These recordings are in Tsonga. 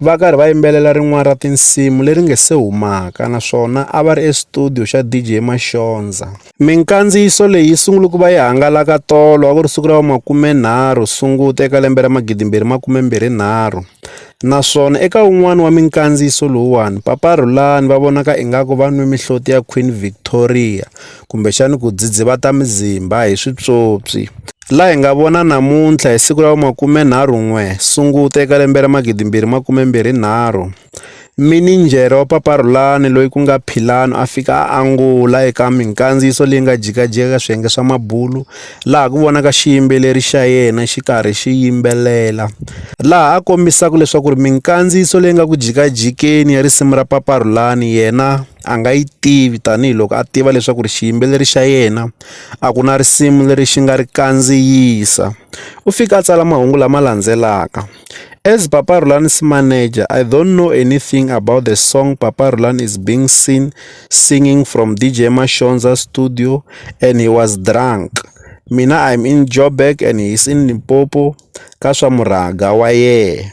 va karhi va yimbelela rin'wana ra tinsimu leri nge se humaka naswona a va ri estudiyo xa DJ Mashonza. Minkandziyiso leyi yi sungule ku va yi hangalaka tolo a ku ri siku ra makumenharhu Sunguti eka lembe ra magidimbirhi makumembirhi nharhu naswona eka wun'wana wa minkandziyiso lowuwani Papa Rhulani va vonaka ingaku va nwe mihloti ya Queen Victoria kumbexani ku dzidzivata mizimba hi swipyopyi. Laha hi nga vona namuntlha hi siku ra vu-23 Sunguti eka lembe ra 2023, mininjhere wa Paparhulani loyi ku nga Philanu a fika a angula eka minkandziyiso leyi nga jikajika eka swiyenge swa mabulu laha ku vonaka xiyimbeleri xa yena xi karhi xi yimbelela laha a kombisaka leswaku ri minkandziyiso leyi nga ku jikajikeni ya risimu ra Paparhulani yena a nga yi tivi tanihiloko a tiva leswaku ri xiyimbeleri xa yena a ku na risimu leri xi nga ri kandziyisa u fika a tsala mahungu lama landzelaka as papa Rhulani is manager I don't know anything about the song papa Rhulani is being seen singing from DJ Mashonza studio and he was drunk mina I'm in Joburg and he is in Limpopo ka swa murhangwa wa yena.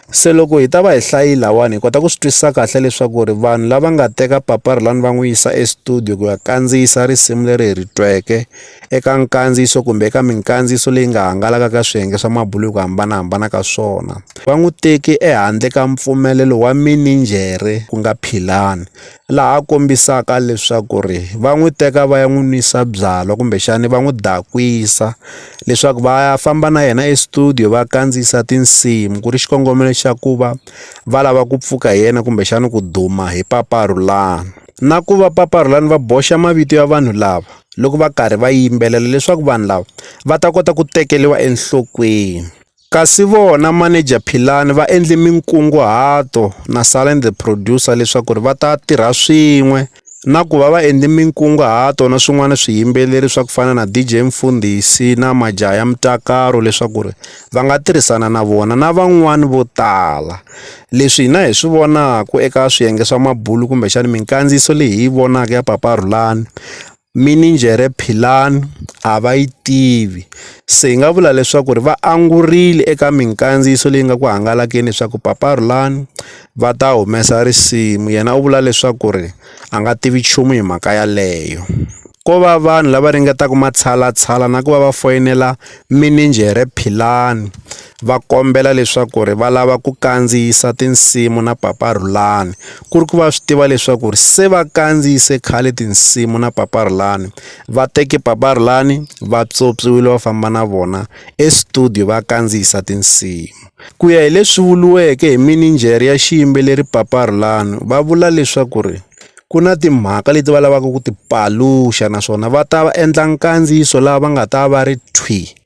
Se loko hi ta va hi hlayi lawani hi kota ku swi twisisa kahle leswaku ri vanhu lava nga teka paparilani va n'wi yisa estudio ku ya kandziyisa risimu leri hi ri tweke eka nkandziyiso kumbe eka minkandziyiso leyi nga hangalaka ka swiyenge swa mabulu hi ku hambanahambana ka swona va n'wi teki ehandle ka mpfumelelo wa mininjhere ku nga Philani laha a kombisaka leswaku ri va n'wi teka va ya n'wi nwisa byalwa kumbexani va n'wi dakwisa leswaku va ya famba na yena estudio va kandziyisa tinsimu ku ri xikongomelo xa ku va va lava ku pfuka hi yena kumbexani ku duma hi Papa Rhulani na ku va Papa Rhulani va boxa mavito ya vanhu lava loko va karhi va yimbelela leswaku vanhu lava va ta kota ku tekeriwa enhlokweni. Kasi vona manager Philani va endle minkunguhato na Salani the producer leswaku ri va ta tirha swin'we na ku va va endle minkunguhato na swin'wana swiyimbeleri swa ku fana na DJ Mfundhisi na Majaha ya Mutakaro leswaku ri va nga tirhisana na vona na van'wani vo tala leswi hina hi swi vonaku eka swiyenge swa mabulu kumbexana minkandziyiso leyi hi yi vonaka ya Papa Rhulani mininjhere Philani a va yi tivi, se hi nga vula leswaku ri va angurile eka minkandziyiso leyi nga ku hangalakeni leswaku Papa Rhulani va ta humesa risimu yena u vula leswaku ri a nga tivi nchumu hi mhaka yaleyo. Ko va vanhu lava ringetaka matshalatshala na ku va va foyinela mininjhere Philani. va kombela leswaku ri va lava ku kandziyisa tinsimu na Papa Rhulani ku ri ku va swi tiva leswaku ri se va kandziyise khale tinsimu na Papa Rhulani va teke Papa Rhulani va tswotswiwile va famba na vona estudio va kandziyisa tinsimu ku ya hi leswi vuriweke hi mininjhere ya xiyimbeleri Papa Rhulani va vula leswaku ri ku na timhaka leti va lavaka ku ti paluxa naswona va ta va endla nkandziyiso laha va nga ta va ri thwi.